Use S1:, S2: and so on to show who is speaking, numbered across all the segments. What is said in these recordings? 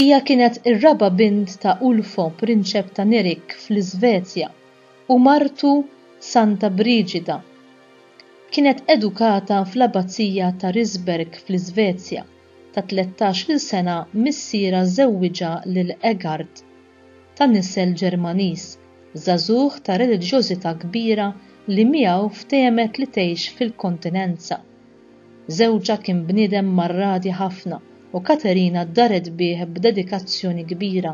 S1: Hija kienet ir-raba' bint ta' Ulfo, prinċep ta' Nerik fl-Iżvezja, u martu Santa Briġida. Kienet edukata fl-Abbazija ta' Risberg fl-Iżvezja, ta' tlettax-il sena missierha żewwiġha lil Eggard, ta' nisel Ġermaniż, żagħżugħ ta' reliġjożità kbira li miegħu ftehmet li tgħix fil-kontinenza. Żewġha kien bniedem marradi ħafna u Katerina ddaret bih b'dedikazzjoni kbira.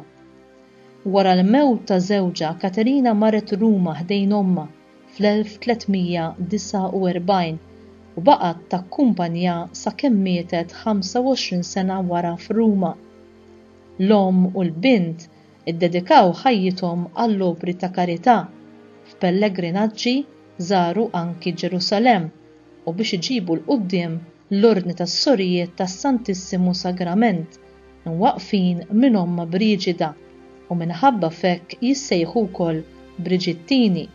S1: Wara l-mewt ta' żewġha Katerina marret Ruma ħdejn ommha fl-1349 u baqgħet takkumpanjha sakemm mietet 25 sena wara f'Ruma. L-omm u l-bint iddedikaw ħajjithom għall-opri ta' karità, f'pellegrinaġġi żaru anki Ġerusalemm u biex iġibu 'l quddiem l-Ordni tas-Sorijiet tas-Santissimu Sagrament, imwaqqfin minn Ommha Briġida, u minħabba f'hekk jissejħu wkoll Briġittini.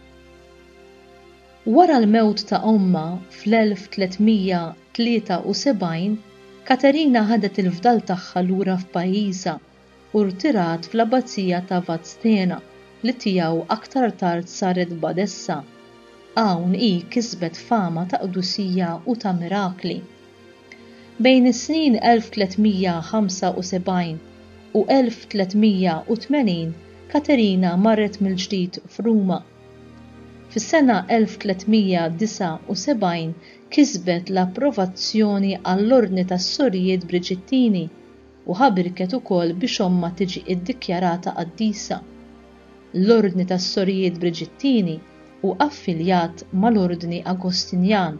S1: Wara l-mewt ta' ommha fl-1373, Katerina ħadet il-fdal tagħha lura f'pajjiżha u rtirat fl-Abbazija ta' Vadstena li tiegħu aktar tard saret badessa. Hawn hi kisbet fama ta' qdusija u ta' mirakli. Bejn is-snin 1375 u 1380 Katerina marret mill-ġdid f'Ruma. Fis-sena 1379 kisbet l-approvazzjoni għall-Ordni tas-Sorijiet Briġittini, u ħa birket ukoll biex ommha tiġi iddikjarata qaddisa. L-Ordni tas-Sorijiet Briġittini hu affiljat mal-Ordni Agostinjan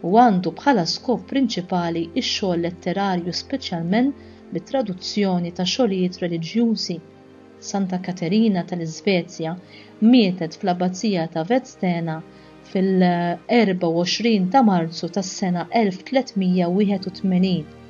S1: u għandu bħala skop prinċipali x-xogħol letterarju speċjalment bit-traduzzjoni ta' xogħlijiet reliġjużi. Santa Katerina tal-Iżvezja mietet fl-Abbazija ta' Vadstena fil-24 ta' Marzu tas-sena 1381.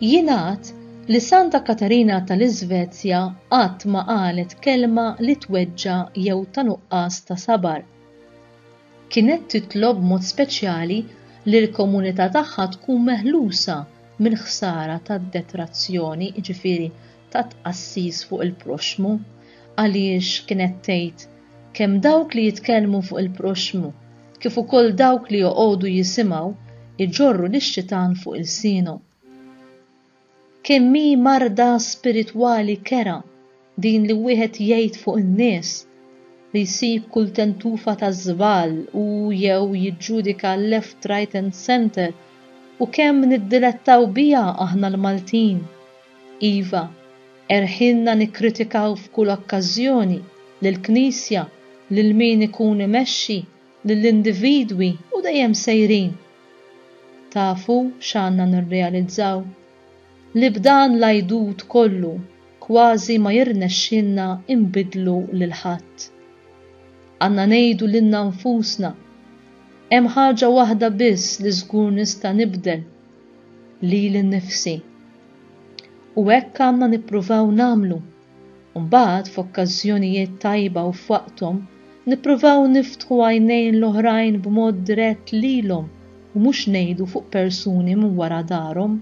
S1: Jingħad li Santa Katarina tal-Iżvezja qatt ma qalet kelma li tweġġa' jew ta' nuqqas ta' sabar. Kienet titlob b'mod speċjali li l-komunità tagħha tkun meħlusa mill-ħsara tad-detrazzjoni, jiġifieri ta' tqassis fuq il-proxxmu għaliex kienet tgħid, Kemm dawk li jitkellmu fuq il-proxxmu kif ukoll dawk li joqogħdu jisimgħu jġorru lix-xitan fuq ilsienhom. Kemm hi marda spiritwali kerha din li wieħed jgħid fuq in-nies li jsib kull tentufa ta' żball u jew jiġġudika left, right and centre u kemm niddilettaw biha aħna l-Maltin Iva, erħilna nikkritikaw f'kull okkażjoni lill-Knisja, lil min ikun imexxi, lill-individwi u dejjem sejrin. Tafu x'għandna nirrealizzaw? Li b'dan l-għidut kollu kważi ma jirnexxilna nbiddlu lil ħadd. Għandna ngħidu lilna nfusna, Hemm ħaġa waħda biss li żgur nista' nibdel, lili nnifsi. U hekk għandna nippruvaw nagħmlu. U mbagħad f'okkażjonijiet tajba u f'waqthom nippruvaw niftħu għajnejn l-oħrajn b'mod dirett lilhom u mhux ngħidu fuq persuni minn wara darhom,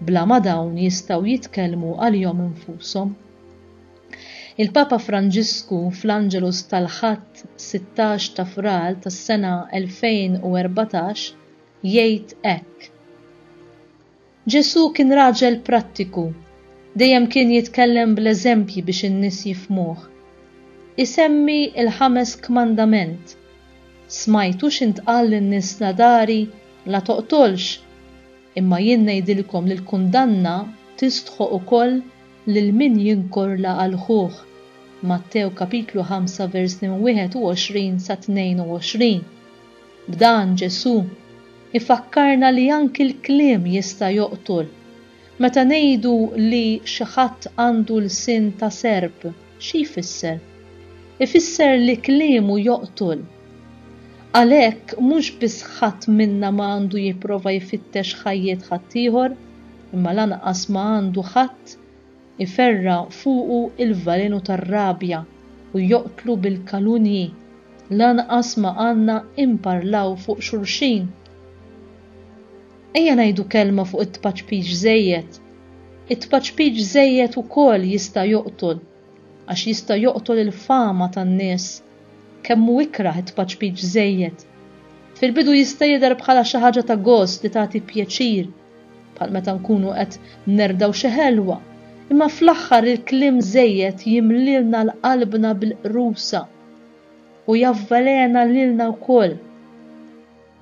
S1: bla ma dawn jistgħu jitkellmu għalihom infushom. Il-Papa Franġisku fl-Angelus tal-Ħadd 16 ta' Frar tas-sena 2014 jgħid hekk. Ġesù kien raġel prattiku, dejjem kien jitkellem bl-eżempji biex in-nies jifhmuh. Isemmi l-ħames kmandament, Smajtu x'intqal lin-nies l-għadari, 'La toqtolx', imma jien ngħidilkom li l-kundanna tistħoq ukoll lil min jinkorla għal ħuh, Mattew kapitlu 5 vers minn 21 sa 22. B'dan Ġesù ifakkarna li anki l-kliem jista' joqtol. Meta ngħidu li xi ħadd għandu lsien ta' serp, xi jfisser? Ifisser li kliemu joqtol. Għalhekk mhux biss ħadd minna ma għandu jipprova jfittex ħajjiet ħaddieħor, imma lanqas ma għandu ħadd iferra' fuqu l-velenu tar-rabja u joqtlu bil-kalunji, lanqas ma għandna imparlaw fuq xulxin. Ejja ngħidu kelma fuq it-tpaċpix żejjed. It-tpaċpix żejjed ukoll jista' joqtol, għax jista' joqtol il-fama tan-nies. Kemm hu ikrah it-tpaċpix żejjed! Fil-bidu jista' jidher bħala xi ħaġa ta' gost li tagħti pjaċir, bħal meta nkunu qed nerdgħu xi ħelwa, imma fl-aħħar il-kliem żejjed jimlielna l-qalbna bil-qrusa u javvelena lilna wkoll.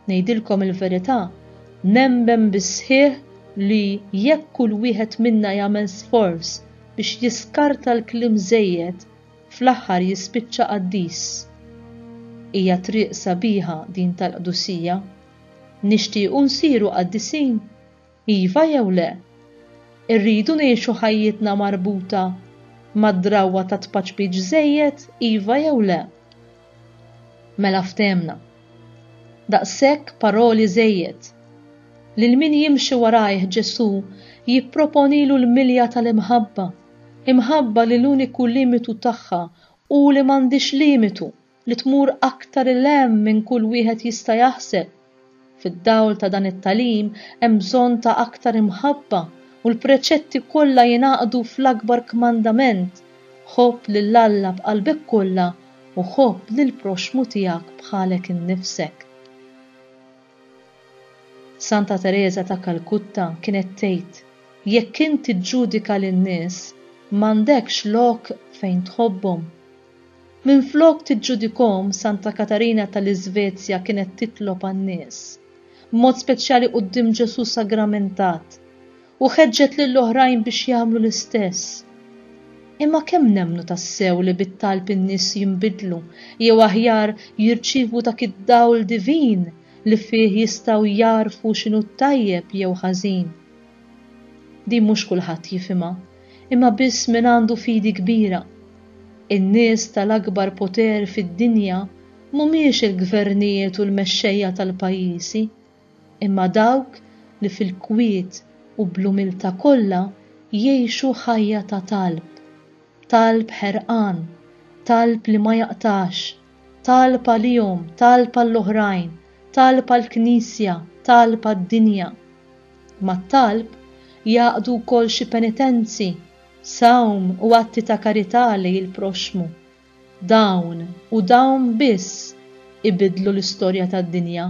S1: Ngħidilkom il-verità, nemmen bis-sħiħ li jekk kull wieħed minna jagħmel sforz biex jiskarta l-kliem żejjed, fl-aħħar jispiċċa qaddis. Hija triq sabiħa din tal-qdusija. Nixtiequ nsiru qaddisin? Iva jew le? Irridu ngħixu ħajjitna marbuta mad-drawwa tat-tpaċpiċ żejjed? Iva jew le? Mela ftehmna. Daqshekk paroli żejjed. Lil min jimxi warajh Ġesù jipproponilu l-milja tal-imħabba, imħabba li l-uniku limitu tagħha hu li m'għandhiex limitu. li tmur aktar 'il hemm minn kull wieħed jista' jaħseb. Fid-dawl ta' dan it-tagħlim hemm bżonn ta' aktar imħabba u l-preċetti kollha jingħaqdu fl-akbar kmandament, Ħobb lil Alla b'qalbek kollha u ħobb lill-proxxmu tiegħek bħalek innifsek. Santa Tereża ta' Kalkutta kienet tgħid, Jekk int tiġġudika lin-nies, m'għandekx lok fejn tħobbhom. Minflok tiġġudikhom, Santa Katarina tal-Iżvezja kienet titlob għan-nies, b'mod speċjali quddiem Ġesù sagramentat, u ħeġġet lil oħrajn biex jagħmlu l-istess. Imma kemm nemmnu tassew li bit-talb in-nies jinbidlu, jew aħjar jirċievu dak id-dawl divin li fih jistgħu jagħrfu x'inhu t-tajjeb jew ħażin? Din mhux kulħadd jifhimha, imma biss min għandu fidi kbira. In-nies tal-akbar poter fid-dinja mhumiex il-gvernijiet u l-mexxejja tal-pajjiżi, imma dawk li fil-kwiet u bl-umiltà kollha jgħixu ħajja ta' talb, talb ħerqan, talb li ma jaqtax. Talb għalihom, talb għall-oħrajn, talb għall-Knisja, talb għad-dinja. Mat-talb jgħaqqdu wkoll xi penitenzi, sawm u atti ta' karità lejn il-proxxmu. Dawn, u dawn biss, ibiddlu l-istorja tad-dinja.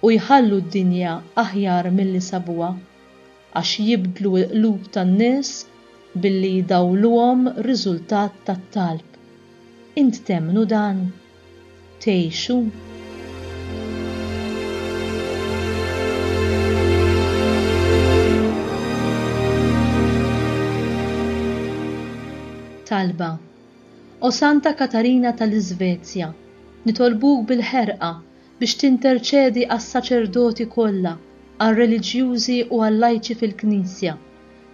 S1: u jħallu d-dinja aħjar milli sabuha, għax jibdlu l-qlub tan-nies billi jdawwluhom riżultat tat-talb. Int temmnu dan? Tgħixu? Talba, O Santa Katarina tal-Iżvezja, nitolbuk bil-ħerqa biex tinterċedi għas-saċerdoti kollha, għar-reliġjużi u għal-lajċi fil-Knisja,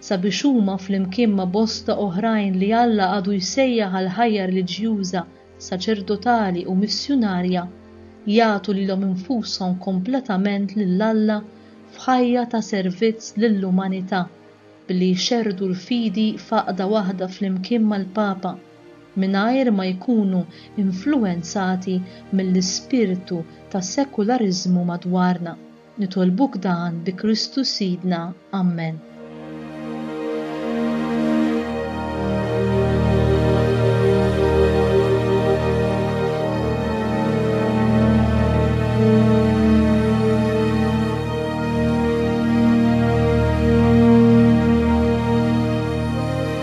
S1: sabiex huma flimkien ma' bosta oħrajn li Alla għadu jsejjaħ għal ħajja reliġjuża, saċerdotali u missjunarja, jagħtu lilhom infushom kompletament lil Alla f'ħajja ta' servizz lill-umanità, billi jxerrdu l-fidi f'għaqda waħda flimkien mal-Papa. mingħajr ma jkunu influwenzati mill-ispirtu ta' sekulariżmu madwarna. Nitolbuk dan bi Kristu Sidna. Ammen.